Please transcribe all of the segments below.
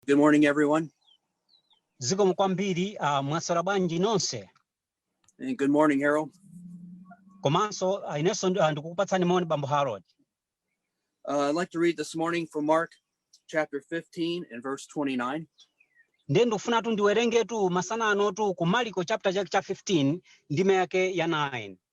Good morning, everyone. zikomo kwambiri uh, mwaswera bwanji nonse And good morning, Harold. komanso uh, inenso ndi- ah, ndikukupatsani moni bambo harold Uh, I'd like to read this morning from Mark chapter 15 and verse 29. ndiye ndikufunatu ndiwerengetu masana anotu ku mariko chapter chake cha 15 ndime yake ya 29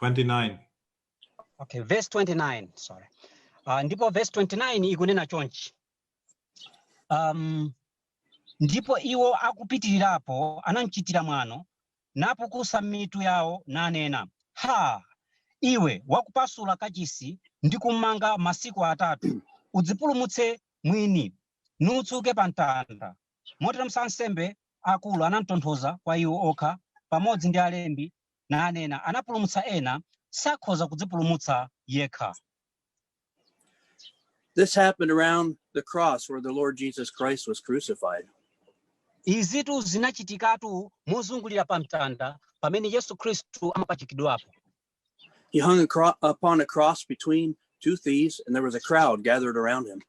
29. Okay, verse 29, sorry. Uh, ndipo verse 29 ikunena chonchi. Um, ndipo iwo akupitirirapo anamchitira mwano napukusa mitu yawo nanena ha iwe wakupasula kachisi ndi kumanga masiku atatu udzipulumutse mwini nutsike pa mtanda moteronso ansembe akulu anamtonza mwa iwo okha pamodzi ndi alembi nanena, anapulumutsa ena, sakhoza kudzipulumutsa yekha. This happened around the cross where the Lord Jesus Christ was crucified. izitu zinachitikatu mozungulira pa mtanda pamene yesu khristu amapachikidwapo He hung a cro- upon a cross between two thieves, and there was a crowd gathered around him.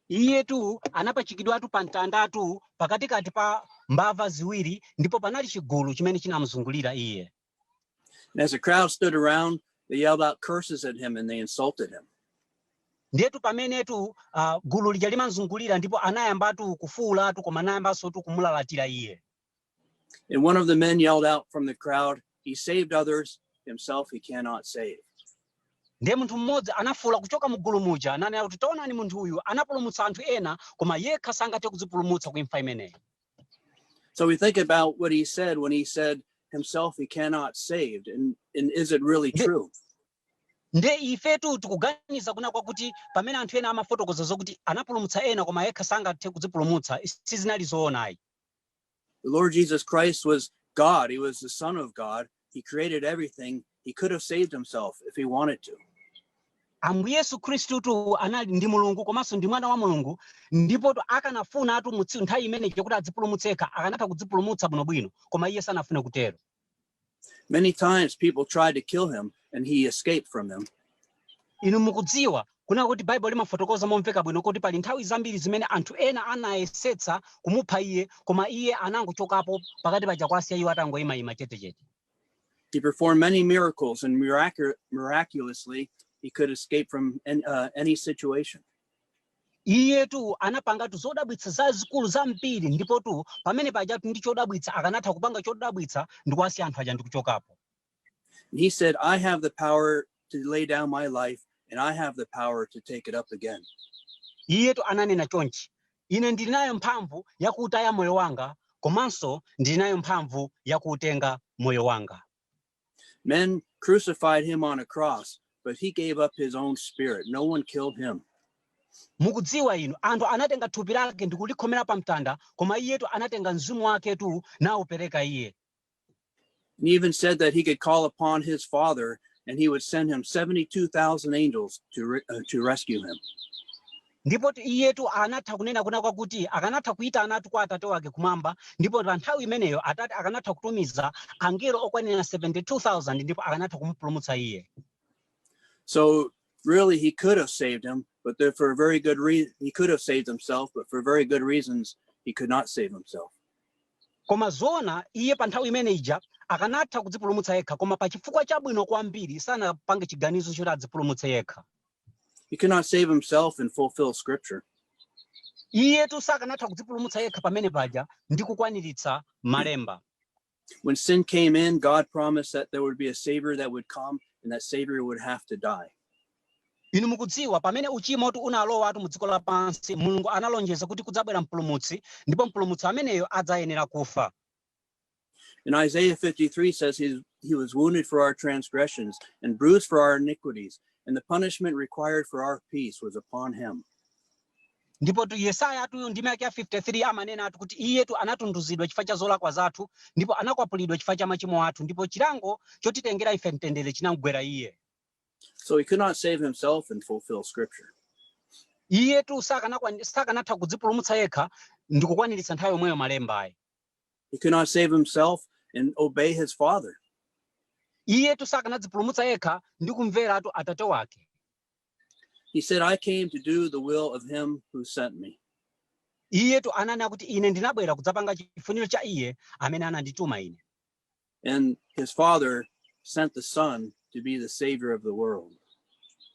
Iyetu anapachikidwatu pa mtandatu pakatikati pa mbava ziwiri ndipo panali chigulu chimene chinamuzungulira iye. And as the crowd stood around, they yelled out curses at him and they insulted him. Ndiyetu pamenetu uh, gulu lija limamzungulira ndipo anayambatu kufuulatu koma anayambansotu kumulalatira iye. And one of the men yelled out from the crowd, He saved others, himself he cannot save. ndiye munthu mmodzi anafuwula kuchoka mu gulu muja ananena kuti taonani munthu uyu anapulumutsa anthu ena koma yekha sangathe kudzipulumutsa ku imfa imeneyi So we think about what he said when he said himself he cannot save. And, and is it really Ndi- true? nde ifetu tikuganiza kunena kwakuti pamene anthu ena amafotokoza zokuti anapulumutsa ena koma yekha sangathe kudzipulumutsa sizinali zoona ayi The Lord Jesus Christ was God, He was the Son of God. He created everything. He could have saved Himself if He wanted to. ambuye yesu khristutu anali ndi mulungu komanso ndi mwana wa mulungu ndipo akanafunatu mu tsiku nthawi imeneyo kuti adzipulumutse yekha akanatha kudzipulumutsa bwinobwino koma iye sanafune kutero Many times people tried to kill him and he escaped from them. inu mukudziwa kunena kuti baibulo limafotokoza momveka bwino kuti pali nthawi zambiri zimene anthu ena anayesetsa kumupha iye koma iye anangochokapo pakati paja kuwasiya iwo atangoyimayima chetechete He performed many miracles and miracu- miraculously he could escape from an- uh, any situation. Iyetu anapangatu zodabwitsa zazikulu zambiri ndipotu pamene pajatu ndi chodabwitsa akanatha kupanga chodabwitsa ndi kuwasiya anthu aja ndi kuchokapo. And he said, I have the power to lay down my life and I have the power to take it up again. Iyetu ananena chonchi, ine ndili nayo mphamvu yakuutaya moyo wanga komanso ndili nayo mphamvu yakuutenga moyo wanga. Men crucified him on a cross, but he gave up his own spirit. No one killed him. mukudziwa inu anthu anatenga thupi lake ndi kulikhomera pa mtanda koma iyetu anatenga mzimu wake tu naupereka iye He even said that he could call upon his father and he would send him 72,000 angels to, re- uh, to rescue him. Ndipo iyetu anatha kunena kunena kwakuti, akanatha kuitanatu kwa Atate wake kumwamba, ndipo pa nthawi imeneyo Atate akanatha kutumiza angelo okwanira 72,000 ndipo akanatha kumupulumutsa iye. So really, he could have saved him, but there, for a very good reason, he could have saved himself, but for very good reasons, he could not save himself. Koma zoona iye pa nthawi imene ija akanatha kudzipulumutsa yekha, koma pa chifukwa chabwino kwambiri sanapange chiganizo choti adzipulumutse yekha. He could not save himself and fulfill scripture. iyetu sakanatha kudzipulumutsa yekha pamene paja ndi kukwaniritsa malemba When sin came in, God promised that there would be a savior that would come and that savior would have to die. inu mukudziwa pamene uchimotu unalowatu mu dziko lapansi mulungu analonjeza kuti kudzabwera mpulumutsi ndipo mpulumutsi ameneyo adzayenera kufa And Isaiah 53 says he, he was wounded for our transgressions and bruised for our iniquities, and the punishment required for our peace was upon him. ndipotu yesayatu ndime yake ya 53 amanenatu kuti iyetu anatunduzidwa chifukwa cha zolakwa zathu ndipo anakwapulidwa chifukwa cha machimo athu ndipo chilango chotitengera ife mtendere chinamgwera iye So he could not save himself and fulfill scripture. iyetu sakanakwan- sakanatha kudzipulumutsa yekha ndi kukwaniritsa nthawi yomweyo malemba ayi He could not save himself and obey his father. iyetu sakanadzipulumutsa yekha ndi kumveratu atate wake He said, I came to do the will of him who sent me. iyetu ananena kuti ine ndinabwera kudzapanga chifuniro cha iye amene anandituma ine And his father sent the son to be the savior of the world.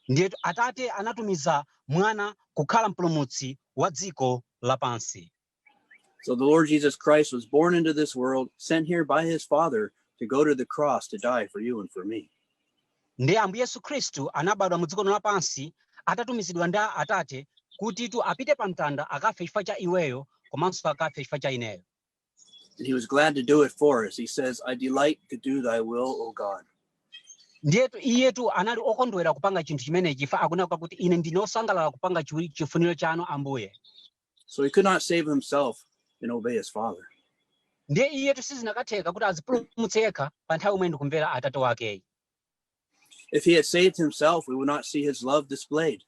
ndiyetu atate anatumiza mwana kukhala mpulumutsi wa dziko lapansi So the Lord Jesus Christ was born into this world, sent here by his Father to go to the cross to die for you and for me. ndiye ambuye yesu khristu anabadwa mu dziko lino lapansi atatumizidwa ndi a- atate kutitu apite pa mtanda akafe chifukwa cha iweyo komanso akafe chifukwa cha ineyo And he was glad to do it for us. He says, I delight to do thy will, O God. ndiyetu iyetu anali okondwera kupanga chinthu chimenechi chifukwa akunena kuti ine ndine osangalala kupanga chiwi- chifuniro chanu ambuye So he could not save himself and obey his father. ndiye iyetu sizinakatheka kuti adzipulumutse yekha pa nthawi yomweyo ndi kumvera atate wake ayi If he had saved himself, we would not see his love displayed.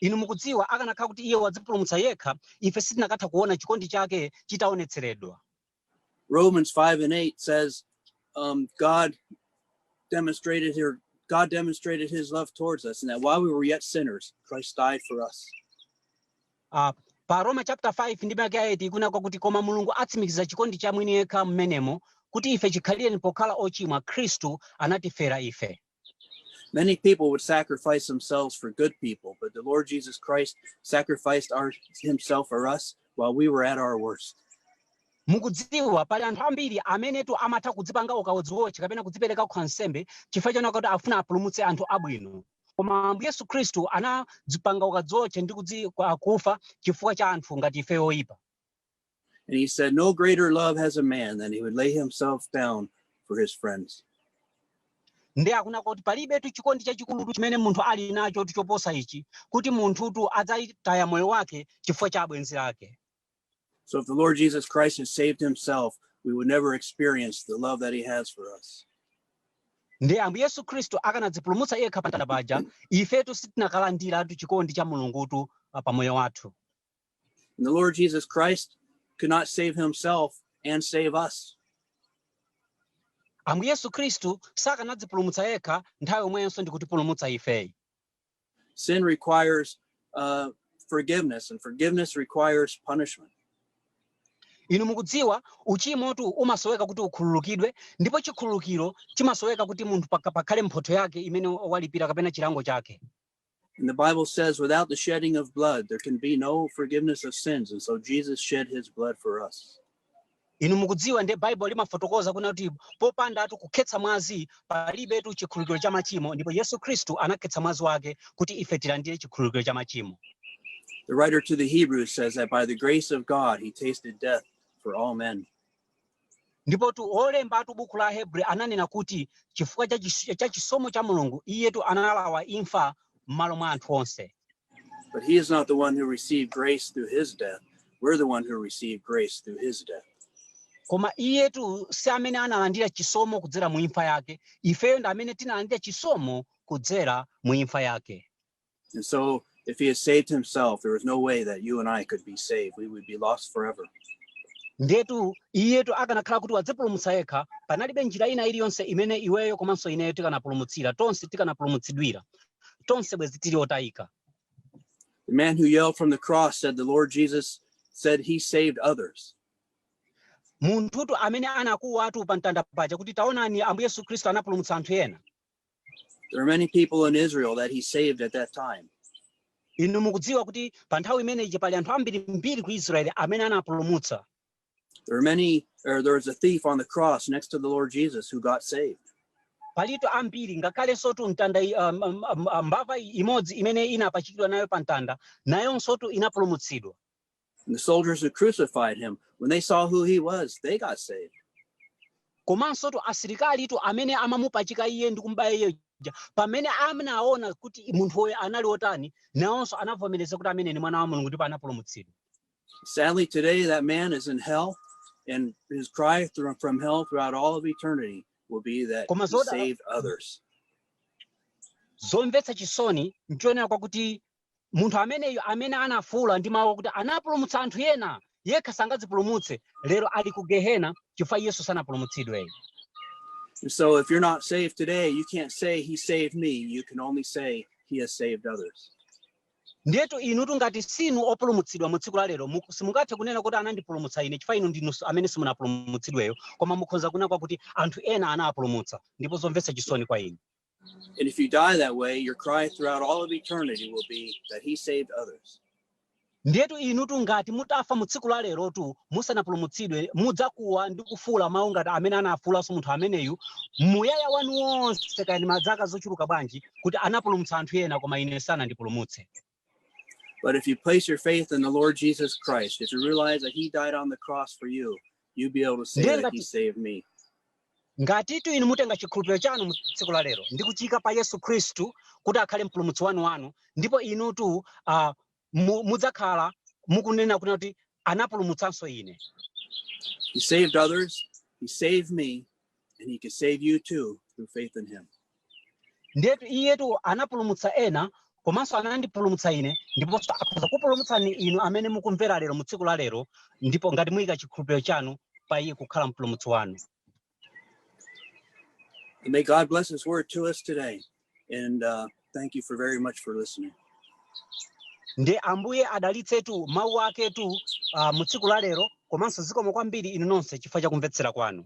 inu mukudziwa akanakhala kuti iye wadzipulumutsa yekha ife sitinakatha kuona chikondi chake chitaonetseredwa Romans 5 and 8 says, um, God demonstrated here, God demonstrated his love towards us, and that while we were yet sinners, Christ died for us. Uh, pa roma chapter 5 ndime yake ya 8 ikunena kwakuti koma mulungu atsimikiza chikondi cha mwini yekha mmenemo kuti ife chikhalireni pokhala ochimwa khristu anatifera ife Many people would sacrifice themselves for good people, but the Lord Jesus Christ sacrificed our, himself for us while we were at our worst. mukudziwa pali anthu ambiri amenetu amatha kudzipanga ukadziwotche kapena kudzipereka kukhala nsembe chifukwa chonena kuti afuna apulumutse anthu abwino koma ambuye yesu khristu anadzipanga ukadziwotche ndi kudzi- kwa- kufa chifukwa cha anthu ngati ife oyipa And he said, No greater love has a man than he would lay himself down for his friends. ndiye akunena kuti palibetu chikondi chachikulutu chimene munthu ali nachotu choposa ichi kuti munthutu adzalitaya moyo wake chifukwa cha abwenzi ake So if the Lord Jesus Christ had saved himself, we would never experience the love that he has for us. ndiye ambuye yesu khristu akanadzipulumutsa yekha pamtanda paja ifetu sitinakalandiratu chikondi cha mulungutu ah, pa moyo wathu And the Lord Jesus Christ could not save himself and save us. ambuye yesu khristu sakanadzipulumutsa yekha nthawi yomweyonso ndi kutipulumutsa ifeyi Sin requires uh, forgiveness, and forgiveness requires punishment. inu mukudziwa uchimotu umasoweka kuti ukhululukidwe ndipo chikhululukiro chimasoweka kuti munthu paka- pakhale mphotho yake imene walipira kapena chilango chake And the Bible says, without the shedding of blood, there can be no forgiveness of sins. And so Jesus shed his blood for us. inu mukudziwa ndiye baibulo limafotokoza kunena kuti popandatu kukhetsa mwazi palibetu chikhululukiro cha machimo ndipo yesu khristu anakhetsa mwazi wake kuti ife tilandire chikhululukiro cha machimo The writer to the Hebrews says that by the grace of God, he tasted death for all men. ndipotu olembatu buku la Ahebri ananena kuti chifukwa cha chis- cha chisomo cha mulungu iyetu analawa imfa m'malo mwa anthu onse But he is not the one who received grace through his death. We're the one who received grace through his death. koma iyetu si amene analandira chisomo kudzera mu imfa yake ifeyo ndi amene tinalandira chisomo kudzera mu imfa yake And so, if he had saved himself, there is no way that you and I could be saved. We would be lost forever. ndetu iyetu akanakhala kuti wadzipulumutsa yekha panalibe njira ina iliyonse imene iweyo komanso ineyo tikanapulumutsira tonse tikanapulumutsidwira tonse bwezi tili otayika The man who yelled from the cross said, The Lord Jesus said he saved others. munthutu amene anakuwatu pa mtanda paja kuti taonani ambuye yesu khristu anapulumutsa anthu ena There are many people in Israel that he saved at that time. inu mukudziwa kuti pa nthawi imeneyi pali anthu ambirimbiri ku israeli amene anapulumutsa There are many, or there was a thief on the cross next to the Lord Jesus who got saved. palitu ambiri ngakhalensotu mtanda i- um, um, um, um, mbava i- imodzi imene inapachikidwa nayo pa mtanda nayonsotu inapulumutsidwa The soldiers who crucified him, when they saw who he was, they got saved. komansotu asilikalitu amene amamupachika iye ndi kumubaya iye uja pamene anaona kuti munthuyo anali wotani nawonso anavomereza kuti ameneyu ndi mwana wa mulungu ndipo anapulumutsidwa Sadly, today that man is in hell, and his cry thro- from hell throughout all of eternity will be that Koma he zoda- saved others. zomvetsa chisoni nchionera kwakuti munthu ameneyo amene anafuula ndi mawu akuti anapulumutsa anthu ena yekha sangadzipulumutse lero ali ku gehena chifukwa iyenso sanapulumutsidwe And so if you're not saved today, you can't say he saved me. You can only say he has saved others. ndiyetu inutu ngati sinu opulumutsidwa mu tsiku la lero muku- simungathe kunena kuti anandipulumutsa ine chifukwa inu ndinu amene simunapulumutsidweyo koma mukhoza kunena kwakuti anthu ena anapulumutsa ndipo zomvetsa chisoni kwa inu And if you die that way, your cry throughout all of eternity will be that he saved others. ndiyetu inutu ngati mutafa mu tsiku la lerotu musanapulumutsidwe mudzakuwa ndi kufuula mawu ngati amene anafuulanso munthu ameneyu muyaya wanu wonse kaya ndi madzaka zochuluka bwanji kuti anapulumutsa anthu ena koma ine sanandipulumutse But if you place your faith in the Lord Jesus Christ, if you realize that He died on the cross for you, you'll be able to say that He saved me. ngatitu inu mutenga chikhulupiriro chanu mu tsiku la lero ndi kuchiyika pa yesu khristu kuti akhale mpulumutsi wanu wanu ndipo inutu uh, mu, mudzakhala mukunena kunena kuti anapulumutsanso ine He saved others. He saved me. And he can save you too through faith in him. ndiyetu iyetu anapulumutsa ena komanso anandipulumutsa ine ndipo akhoza kupulumutsani inu amene mukumvera lero mu tsiku la lero ndipo ngati muyika chikhulupiriro chanu pa iye kukhala mpulumutsi wanu And may God bless his word to us today. And uh, thank you for very much for listening. ndiye ambuye adalitsetu mawu aketu uh, mu tsiku la lero komanso zikomo kwambiri inu nonse chifukwa cha kumvetsera kwanu